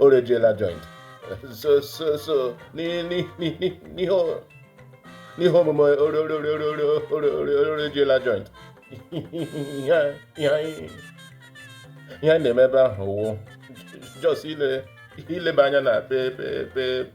orejiela joint so so so n'ihe omume orejiela joint ihe anyị na-eme ebe ahụ wụ just ileba anya na pe pe pe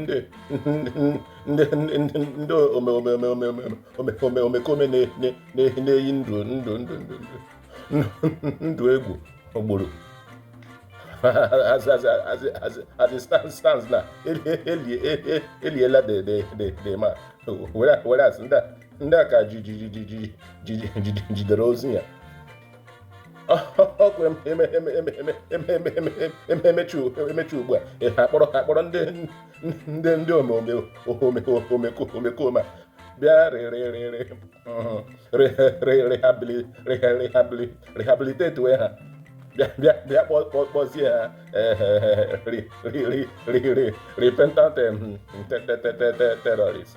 ndị ndị ndị ndị omekome na-eyi ndụ ndụ ndụ ndụ ndụ egwu ogburu as as as as as it stands stands now e liela the the the the man whereas ndị a ka jidere ozu ya ọ kwa e mechaa ugbu a ha kpọrọ ha kpọrọ ndị ndị ndị omekome bịa rehabilitate we ha bịa kpọzie ha repentant terrorist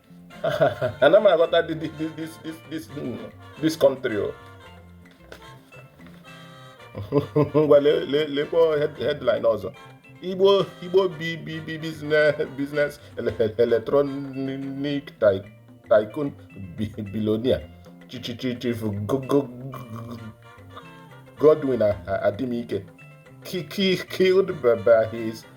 ana m aghọta this country o ngwa lekwa headline ọzọ igbo igbo bi bi business electronic tycoon billionaire chief Godwin Adimike killed by his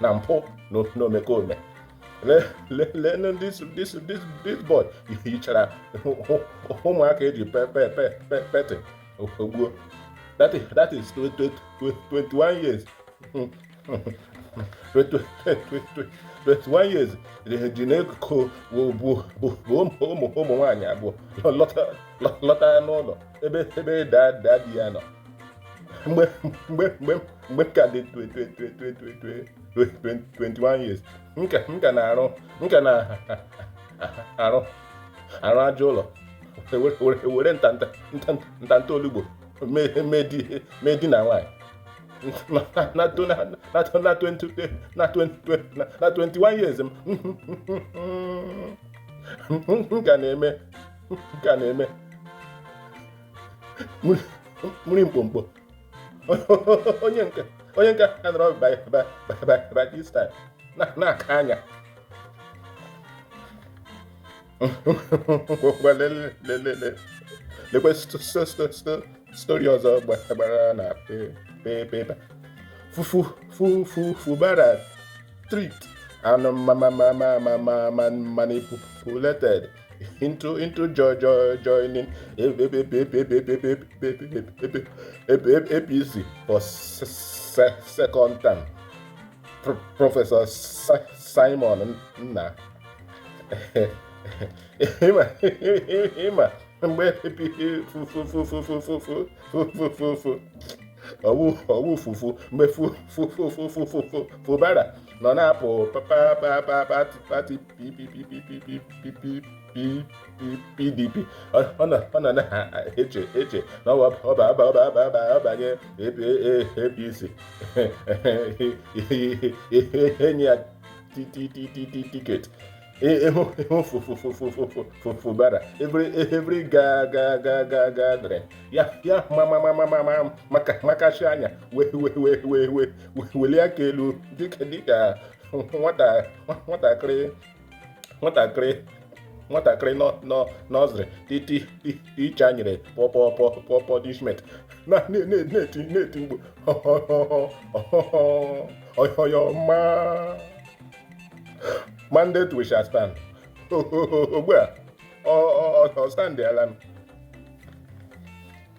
na mpụ na omekome leenụ this boy hichara ụmụaka e ji pet gbuo that is 21 years 21 years ji na-ekukọ bụ ụmụ nwaanyị abụọ lọta n'ụlọ ebe ebe daddy ya nọ mgbe mgbe mgbe mgbe m ka dị 21 years m ka na-arụ m ka na-arụ arụ aja ụlọ were ntanta ntanta olugbo mee di na nwaanyị na 21 years m ka na-eme ka na-eme mmiri mkpomkpo onye nke onye nke a nọrọ by this time na-aka anya lekwe story ọzọ gbara na paper fu fu fu fu Fubara tricked and manipulated into into joy joy joining APC for second term Professor Simon Nna ịma ịma mgbe epighị fufufufufufufufufu ọwụ ọwụ fufu mgbe fufufufufufufu Fubara nọ na-apụ pa pa pa pa pati PDP ọ nọ na-eche eche na ọ banye APC e nye ya ticket Fubara every ga ga ga ga gathering ya ya maka makachi anya wee wee wee wee wee welie aka elu dịka dịka nwatakịrị nwatakịrị nwatakịrị nursery ti ti teacher nyere pọ pọ pọ punishment na-eti na-eti mkpu on your ma mandate we shall stand ugbu a ọ standala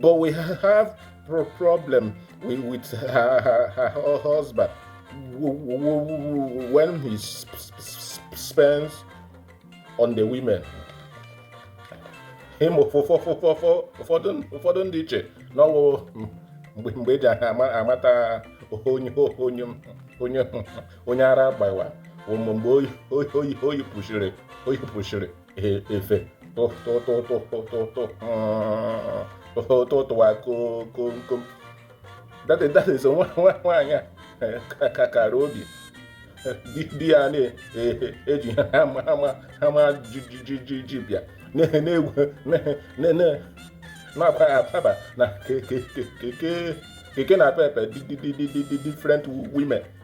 But we have pro problem with, with her, her, her husband when he sp sp sp spends on the women. Hm ụfọdụ ndị eche n'ọ wụ mgbe mgbe e ji amata onye onye onye onye ara gbawa mgbe o yi o yi o yipụchiri o yipụchiri E, efe tụtụtụtụtụtụtụwa komkom that that is nwaanyị a ka kara obi di ya na-eji Hummer ji ji jeep ya na-egwu na-abaghị ababa na Keke Napep different women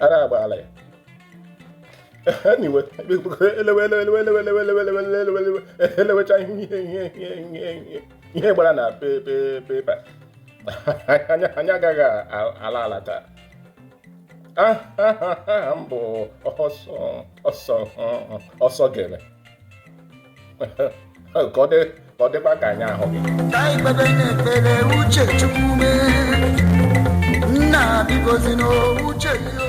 ara agbaala ya anyway e lewecha ihe gbara na pepa anyị agaghị ala ala taa aha m bụ ọsọ gere ka ọ dịkwa ka anyị ahụ gị ka anyị kpebenụ ekpere uche Chukwu mee nna biko zi m uche gị o